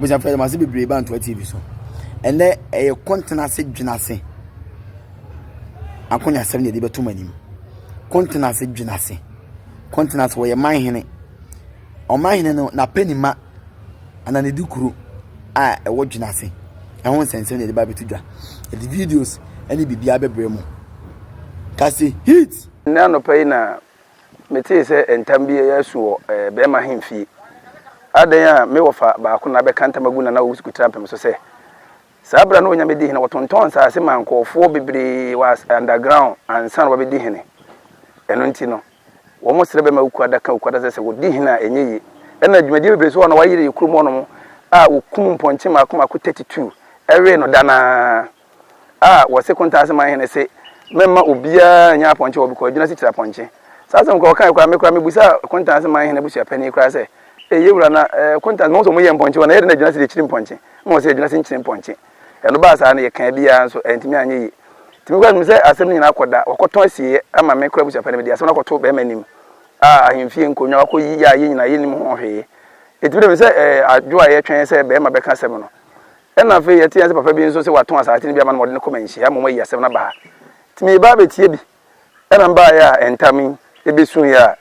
abusuafo yɛde mo ase bebree ba ntoa tv so ɛnɛ ɛyɛ kɔntena ase dwena ase akonya asɛm na yɛde bɛto mo anim kɔntena ase dwena ase kɔntena ase wɔyɛ man hene ɔman hene no n'apɛ ne ma ana ne di kuro a ɛwɔ dwena ase ɛho nsɛnsɛm na yɛde ba abɛto dwa yɛde videos ɛne biribiara bɛbrɛ mo kase hit. nnɛ anɔpa yi na Metee sɛ ntam bi reyɛ asu wɔ bɛrima ahemfie. Adɛn a me wɔfa baako na abɛka ntam agu Nana Owusu Kutirampem so sɛ, saa bere a na Onyame di hene no, wɔtontɔn nsase maa nkurɔfoɔ bebree wɔ underground ansa na wɔabɛdi hene. Ɛno nti no, wɔsrɛ bɛma Owku Ada ka Owku Ada sɛ, sɛ wɔdi hene a, ɛnyɛ yie. Ɛnna dwumadie bebree nso wɔ hɔ a na wɔayere yɛ kurom hɔnom a wɔkum mpɔnkye mmaako mmaako 32 wee no da no ara. a wɔse Kontaase Manhene se memma obiara nyɛ apɔnkye wɔ Bikɔɔ Adwinase Kyirapɔnkye. Saa asɛm korɔ wɔkaeɛ koraa me koraa mebusaa Kontaase Manhene abusuapani koraa sɛ ee yewura na Kontaase mahu sɛ wɔyɛ mpɔnkye wɔ na ɛyɛ dɛn na Adwinase deɛ kyiri mpɔnkye na wɔse Adwinase nkyiri mpɔnkye. Ɛno baa saa no yɛkaa biara nso antumi anyɛ yie. Nti me koraa menim sɛ asɛm no nyinaa akɔda wɔakɔtɔn asieɛ ama me koraa abusuapani mede asɛm no akɔto bɛrima anim a ahemfie nkonnwa wakɔyi yɛ a yɛn nyinaa yɛnnim ho hwee. Ɛtumi dɛ me sɛ adwo a yɛtwɛn sɛ bɛrima bɛka asɛm no Ɛna afei yɛte ase papa bi nso sɛ watɔn asase no bi ama no ma ɔde no kɔ manhyia mmom ayi asɛm no aba ha. Nti mereba abɛtie bi. Ɛna mbaeɛ a ntam yi ɛbɛsuiɛ a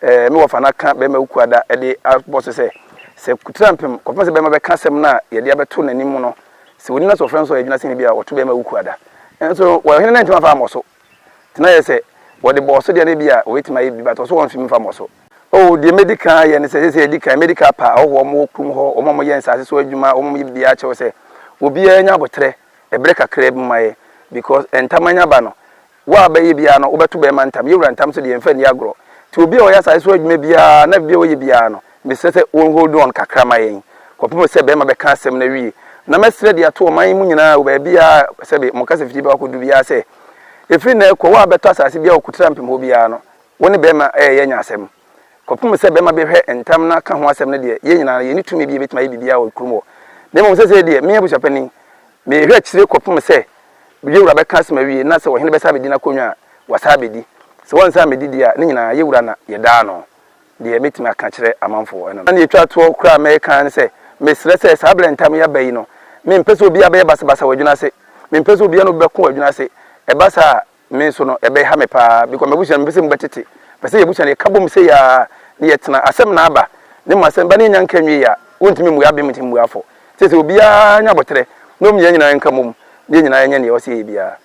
ɛɛ me wɔfa no aka bɛrima Wukuada de abɔ so sɛ, sɛ kutra mpem kɔpem sɛ bɛrima bɛka asɛm no a yɛde abɛto n'anim no, sɛ ɔni no a sɛ ɔfrɛ no so a ɛgyina sɛ ebia ɔto bɛrima Wukuada. Nanso ɔhene no antumi amfa ammɔ so. Ná ɛyɛ sɛ wɔde bɔɔ so deɛ na ebia wɔbɛtumi ayɛ bi, but ɔso wɔn mfem mfa mmɔ so. Oh, deɛ mɛdi kan ayɛ ne sɛ, seesei adi kan, mɛdi kan apa ahɔhoɔ a wɔwɔ kurom hɔ, wɔn a wɔyɛ nsaase so adwuma, wɔn a wɔyɛ biribiara akyerɛ wo sɛ, obiara nya aboterɛ ɛberɛ kakraa bi mu ayɛ, because ntam anya ba no, wo a wobɛyɛ biara no, wobɛto bɛrima ntam, yɛwura ntam nso deɛ, yɛmfa nni agorɔ. Nti obi a ɔyɛ asaase so adwuma biara, na biribiara a ɔyɛ biara no, Mesrɛ sɛ wɔn hold on kakra ma yɛn kɔpem sɛ bɛɛma bɛka asɛm no awie. Na mɛsrɛ de ato ɔman yi mu nyinaa wɔ baabiaa sɛbe wɔn kasa fiti bɛkɔ akɔdu biaa sɛ, ɛfiri nnɛ rekɔ, wo a bɛtɔ asase biaa wɔ Kutram Pim hɔ biaa no, wo ne bɛɛma ɛyɛ yɛanya asɛm. Kɔpem sɛ bɛɛma bɛhwɛ ntam na ka ho asɛm no deɛ, yɛn nyinaa no, yɛnni tumi bi a yɛbɛtumi ayɛ biribiaa wɔ kurom hɔ. Na mmom sɛsɛi deɛ, me abusuapanin, mehwɛ akyire kɔpem sɛ yɛwura bɛka asɛm awie, na sɛ ɔhene bɛsan abɛdi n'akonnwa a, wasan abɛdi. Sɛ wansan ammɛdi deɛ a, ne nyinaa, yɛwura na yɛdaa no Deɛ mɛtumi aka akyerɛ amanfoɔ, ɛno no. Na deɛ ɛtwa toɔ koraa a mɛka ara ne sɛ, mesrɛ sɛ saa berɛ ntam yi aba yi no, mempɛ sɛ obiara bɛyɛ basabasa wɔ adwene ase. Mempɛ sɛ obiara ne obi bɛko wɔ adwene ase. Ɛba saa a, me nso no, ɛbɛha me pa ara because m'abusua no, mempɛ sɛ emu bɛtete. Mepɛ sɛ yɛn abusua no, yɛka bom sei ara na yɛtena. Asɛm na aba, na mmom asɛm ba na yɛnnya nka nwieeɛ a, wɔntumi mmua abem nti mmuafoɔ. Seesei obiara nyɛ abɔterɛ na mmom yɛn nyinaa nka mmom na yɛn nyinaa nyɛ deɛ ɛwɔ sɛ yɛyɛ biara.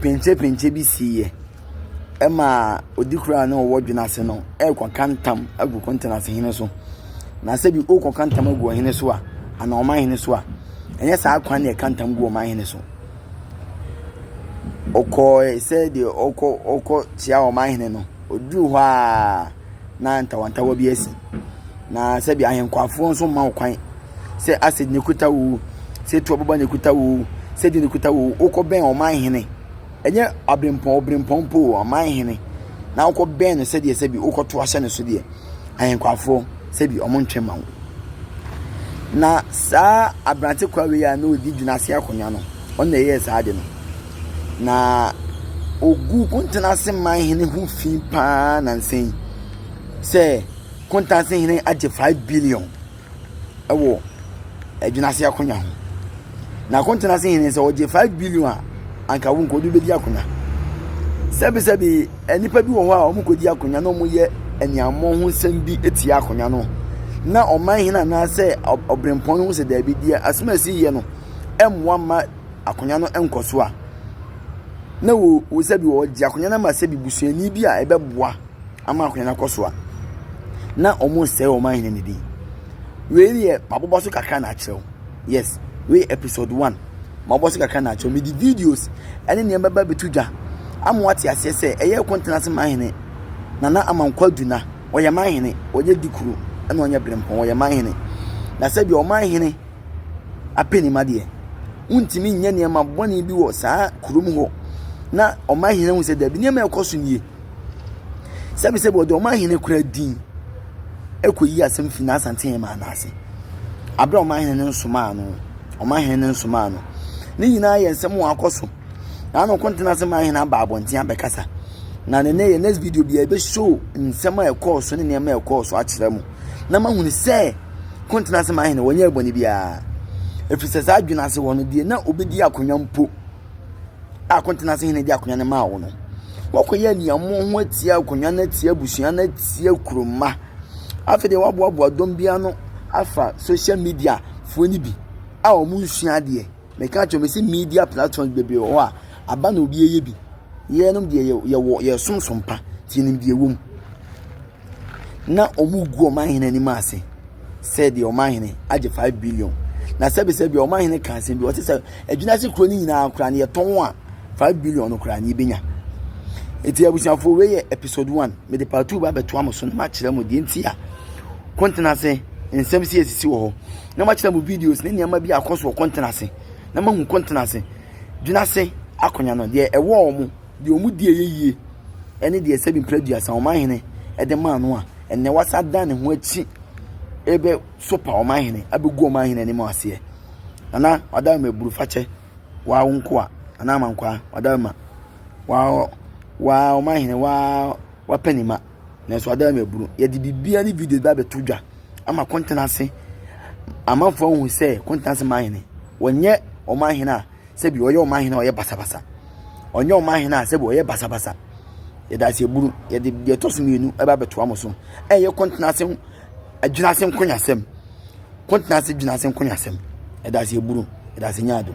Penkyepenkye bi siiɛ ɛma odikurani no a ɔwɔ dwene ase no rekɔka ntam agu kɔntenasehene so. Na sɛbi ɔrekɔka ntam agu ɔhene so a anaa ɔmanhene so a, ɛnyɛ saa kwan na yɛka ntam gu ɔmanhene so. Ɔkɔɔe sɛ deɛ ɔkɔ ɔkɔ kyea ɔmanhene no, ɔduruu hɔ aa. na ntawantawa bi asi. Na sɛdeɛ ahenkwaafoɔ nso mma wo kwan sɛ Ased na ɛkuta wo o, sɛ Tobiba na ɛkuta wo o, sɛ deɛ na ɛkuta wo o, wokɔbɛn ɔman hene. Ɛnyɛ abirempɔn obirempɔn mpo o, ɔman hene. Na wokɔbɛn no sɛdeɛ sɛbi wokɔto ahyɛ no so deɛ, ahenkwaafoɔ sɛbi wɔn ntwe mma wo. Na saa aberante kwa wei a na ɔdi Dwunaase Akonnwa no, ɔno na ɛyɛɛ saa ade no. na ɔguu Kuntanase manhene ho fi pa ara nnansa yi sɛ Kuntanse hene agye five billion wɔ Adwini Ase Akonwa ho. Na Kuntanse hene sɛ ɔgye five billion a, anka wo nka ɔde bɛdi akonnwa. Sɛbesɛbe nnipa bi wɔ hɔ a wɔkɔdi akonnwa na wɔyɛ aniammɔ ho nsɛm bi tia akonnwa no na ɔman hene anaasɛ ɔbrempɔn no ho sɛ daabi deɛ asɛm a ɛsi yɛ no mmoa mma akonnwa no nkɔ so a, na wo wo sɛbi wɔgye akonnwa no ama sɛbi busuani bi a ɛbɛboa ama akonnwa no akɔ so a na wɔresɛe wɔn ahene no din wei deɛ mabobɔ so kakra na akyerɛw yes wei episode one mabobɔ so kakra na akyerɛw mede videos ɛne nneɛma bɛba bɛto dwa ama wate aseɛ sɛ ɛyɛ kɔntena ase ma ahene nana ama nkɔ aduna wɔyɛ ma ahene wɔyɛ dikuro ɛna wɔnyɛ berempɔn wɔyɛ ma ahene na sɛbi wɔn ahene apɛ nim adeɛ. Wontumi nyɛ nneɛma bɔne bi wɔ saa kurom hɔ na ɔmanhene ahu sɛ dabi nneɛma ɛkɔ so nie. Sɛbisɛbi wɔde ɔmanhene kura din ɛkɔyi asɛm fi n'asante yɛn maa n'ase. Aberɛ a ɔmanhene no nsomaa no, ɔmanhene no nsomaa no. Ne nyinaa yɛ nsɛm wɔn akɔ so. na ano ko ntena ase ma ahene aba abɔnten abɛkasa na ne ne yɛ next video bi a ebe show nsɛm a ɛkɔɔ so ne nneɛma a ɛkɔɔ so akyerɛ mu na ma hunu sɛ ko ntena ase ma ahene wɔnyɛ ɛbɔne biara efisɛ saa adwene ase wɔ no deɛ na obedi akonnwa mpo a ko ntena ase hene di akonnwa no maa wo no wɔkɔyɛ nneɛma ho atia akonnwa no atia abusua no atia kuroma afei deɛ wɔaboaboa dɔm bi ano afa social media foɔ no bi a wɔn nsua adeɛ. Meka kyerɛ me se media platforms bebree wɔ hɔ a aba na obi yɛ bi. Yɛnom deɛ yɛwɔ yɛsom som pa nti yɛnim deɛ ɛwɔ mu. Na wɔn gu wɔn ahene anim ase sɛ deɛ wɔn ahene agye five billion. Na sɛbisɛbi wɔn ahene ka asɛm bi wɔte sɛ adwina ase kuro no nyinaa koraa no yɛtɔn a five billion no koraa no yɛbɛnya. Eti abusuafoɔ wei yɛ episode one mede part two ba abɛtoa mo so na makyerɛ mo deɛ nti a kɔntena ase nsɛm si esisi wɔ hɔ. na makyerɛ mo videos ne nneɛma bi a akɔ so wɔ kɔntene ase na mahu kɔntene ase dwena ase akonya no deɛ ɛwɔ wɔn deɛ wɔn di ɛyɛ yie ɛne deɛ sɛbi mpira duasa wɔn ahene ɛde maa no a ɛnɛ wasa dan ne ho akyi ɛbɛ sopa wɔn ahene abɛgu wɔn ahene anim aseɛ nana ɔda ma eburu fakyɛ waa wo nkoa anaa ma nkoa ɔda ma waa waa wɔn ahene waa wapɛ ne ma. Nanso adan mu abunu. Yɛde biribiara ne videos bi abɛto dwa ama Kɔntenase amanfoɔ ahu sɛ Kɔntenase manhene wɔnyɛ ɔmanhene a sɛbi ɔyɛ ɔmanhene a ɔyɛ basabasa ɔnyɛ ɔmanhene a sɛbi ɔyɛ basabasa yɛde ase abunu yɛde deɛ ɛtɔ so mmienu ɛbɛ abɛtoa mo so ɛyɛ Kɔntenase agyina ase nkonyasɛm Kɔntenase gyina ase nkonyasɛm yɛde ase abunu yɛde ase nyaado.